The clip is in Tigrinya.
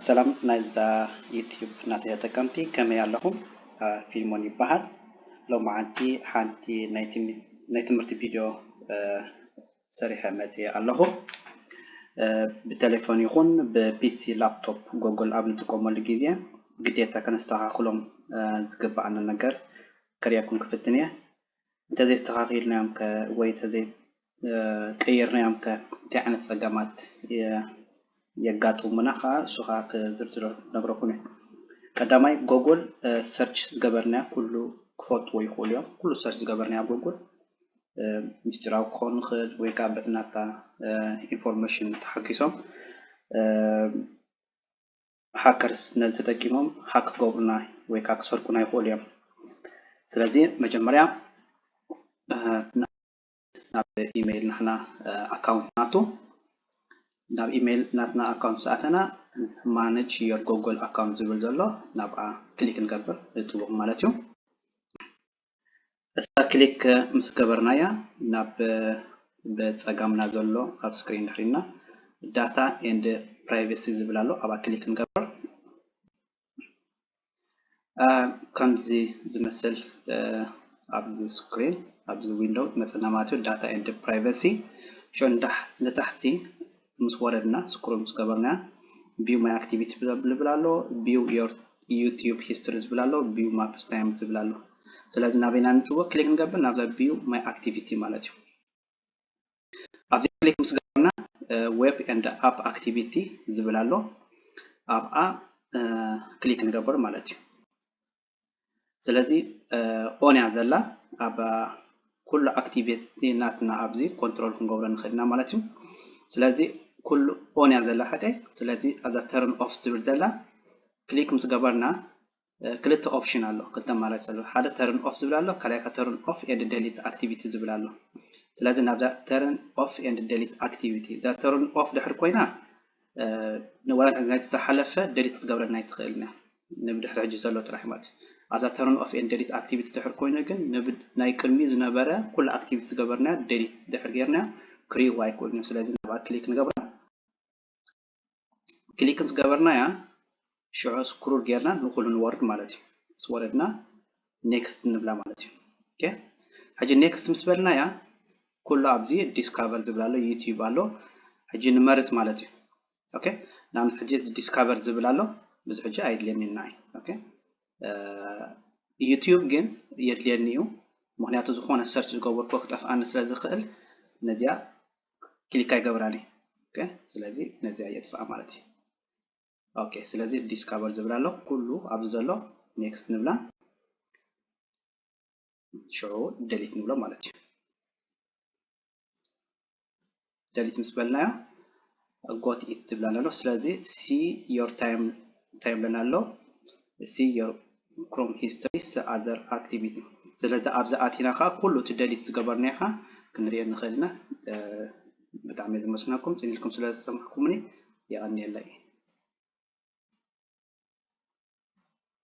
ሰላም ናይዛ ዩቲዩብ ናተይ ተጠቀምቲ ከመይ ኣለኹም ፊልሞን ይበሃል ሎምዓንቲ ሓንቲ ናይ ትምህርቲ ቪድዮ ሰሪሐ መፅየ ኣለኹ ብተሌፎን ይኹን ብፒሲ ላፕቶፕ ጎግል ኣብ ንጥቀመሉ ግዜ ግዴታ ከነስተኻኽሎም ዝግበኣና ነገር ከርእየኩም ክፍትን እየ እንተዘይስተኻኺልናዮም ወይ ቀይርናዮም ከ እንታይ ዓይነት ጸገማት የጋጥሙና ከኣ እሱ ከኣ ክዝርዝሮ ክነግረኩም እየ። ቀዳማይ ጎጎል ሰርች ዝገበርናዮ ኩሉ ክፈልጥዎ ይኽእሉ እዮም። ኩሉ ሰርች ዝገበርናዮ ኣብ ጎጎል ምስጢራዊ ክኸውን ይኽእል ወይ ከኣ በቲ ናትካ ኢንፎርሜሽን ተሓጊሶም ሃከርስ ነዚ ተጠቂሞም ሃክ ክገብሩና ወይ ከኣ ክሰርቁና ይኽእሉ እዮም። ስለዚ መጀመርያ ናብ ኢመይል ናትና ኣካውንት ንኣቱ ናብ ኢመይል ናትና ኣካውንት ምስ ኣተና ማነጅ ዮር ጎጎል ኣካውንት ዝብል ዘሎ ናብኣ ክሊክ ንገብር ንጥውቕ ማለት እዩ እሳ ክሊክ ምስ ገበርናያ ናብ ብጸጋምና ዘሎ ኣብ ስክሪን ድሕሪና ዳታ ኤንድ ፕራይቬሲ ዝብል ኣሎ ኣብኣ ክሊክ ንገብር ከምዚ ዝመስል ኣብዚ ስክሪን ኣብዚ ዊንዶ ክመፀና ማለት እዩ ዳታ ኤንድ ፕራይቨሲ ሾ ንታሕቲ ምስ ወረድና ስክሩ ምስ ገበርና ቢው ማይ ኣክቲቪቲ ዝብል ኣሎ ቢው ዮር ዩቲዩብ ሂስትሪ ዝብል ኣሎ ቢው ማፕስ ታይም ዝብል ኣሎ ስለዚ ናበይና ንፅወ ክሊክ ንገብር ናብዛ ቢው ማይ ኣክቲቪቲ ማለት እዩ ኣብዚ ክሊክ ምስ ገበርና ዌብ ኤንድ ኣፕ ኣክቲቪቲ ዝብል ኣሎ ኣብኣ ክሊክ ንገብር ማለት እዩ ስለዚ ኦን እያ ዘላ ኣብ ኩሉ ኣክቲቪቲ ናትና ኣብዚ ኮንትሮል ክንገብሮ ንኽእል ኢና ማለት እዩ ስለዚ ኩሉ ኦን እያ ዘላ ሓቀይ ስለዚ ኣብዛ ተርን ኦፍ ዝብል ዘላ ክሊክ ምስ ገበርና ክልተ ኦፕሽን ኣሎ ክልተ ኣማራጺ ኣሎ ሓደ ተርን ኦፍ ዝብል ኣሎ ካልኣይ ከኣ ተርን ኦፍ ኤንድ ደሊት ኣክቲቪቲ ዝብል ኣሎ ስለዚ ናብዛ ተርን ኦፍ ኤንድ ደሊት ኣክቲቪቲ እዛ ተርን ኦፍ ድሕር ኮይና ንዋላ እንተ ናይቲ ዝሓለፈ ደሊት ክትገብረና ኣይትኽእልን እያ ንብድሕሪ ሕጂ ዘሎ ጥራሕ ማለት እዩ ኣብዛ ተርን ኦፍ ኤንድ ደሊት ኣክቲቪቲ ድሕር ኮይኑ ግን ናይ ቅድሚ ዝነበረ ኩሉ ኣክቲቪቲ ዝገበርናያ ደሊት ድሕር ጌርናያ ክሪእዋ ኣይክእሉን እዮም ስለዚ ናብኣ ክሊክ ንገብራ ክሊክ ዝገበርናያ ሽዑ ስክሩል ጌርና ንኩሉ ንወርድ ማለት እዩ ምስ ወረድና ኔክስት ንብላ ማለት እዩ ኦኬ ሕጂ ኔክስት ምስ በልናያ ኩሉ ኣብዚ ዲስካቨር ዝብል ኣሎ ዩቲዩብ ኣሎ ሕጂ ንመርጽ ማለት እዩ ኦኬ ንኣብነት ሕጂ ዲስካቨር ዝብል ኣሎ ብዙ ሕጂ ኣይድልየኒ ንዓይ ኦኬ ዩቲዩብ ግን የድልየኒ እዩ ምክንያቱ ዝኾነ ሰርች ዝገበርኩ ክጠፍኣኒ ስለ ዝኽእል ነዚኣ ክሊክ ኣይገብራን እዩ ኦኬ ስለዚ ነዚኣ የጥፍኣ ማለት እዩ ኦኬ ስለዚ ዲስካቨር ዝብል ኣሎ ኩሉ ኣብዚ ዘሎ ኔክስት ንብላ ሽዑ ደሊት ንብሎ ማለት እዩ ደሊት ምስ በልናዮ ጎት ኢት ዝብላና ኣሎ ስለዚ ሲ ዮር ታይም ታይም ለና ኣሎ ሲ ዮር Chrome History Other Activity ስለዚ ኣብዚ ኣቲና ከኣ ኩሉ እቲ ደሊት ዝገበርናዮ ከኣ ክንሪኦ ንክእል ኢና ብጣዕሚ እየ ዘመስግነኩም ጽን ኢልኩም ስለ ዝሰማዕኩምኒ የቀንየለይ።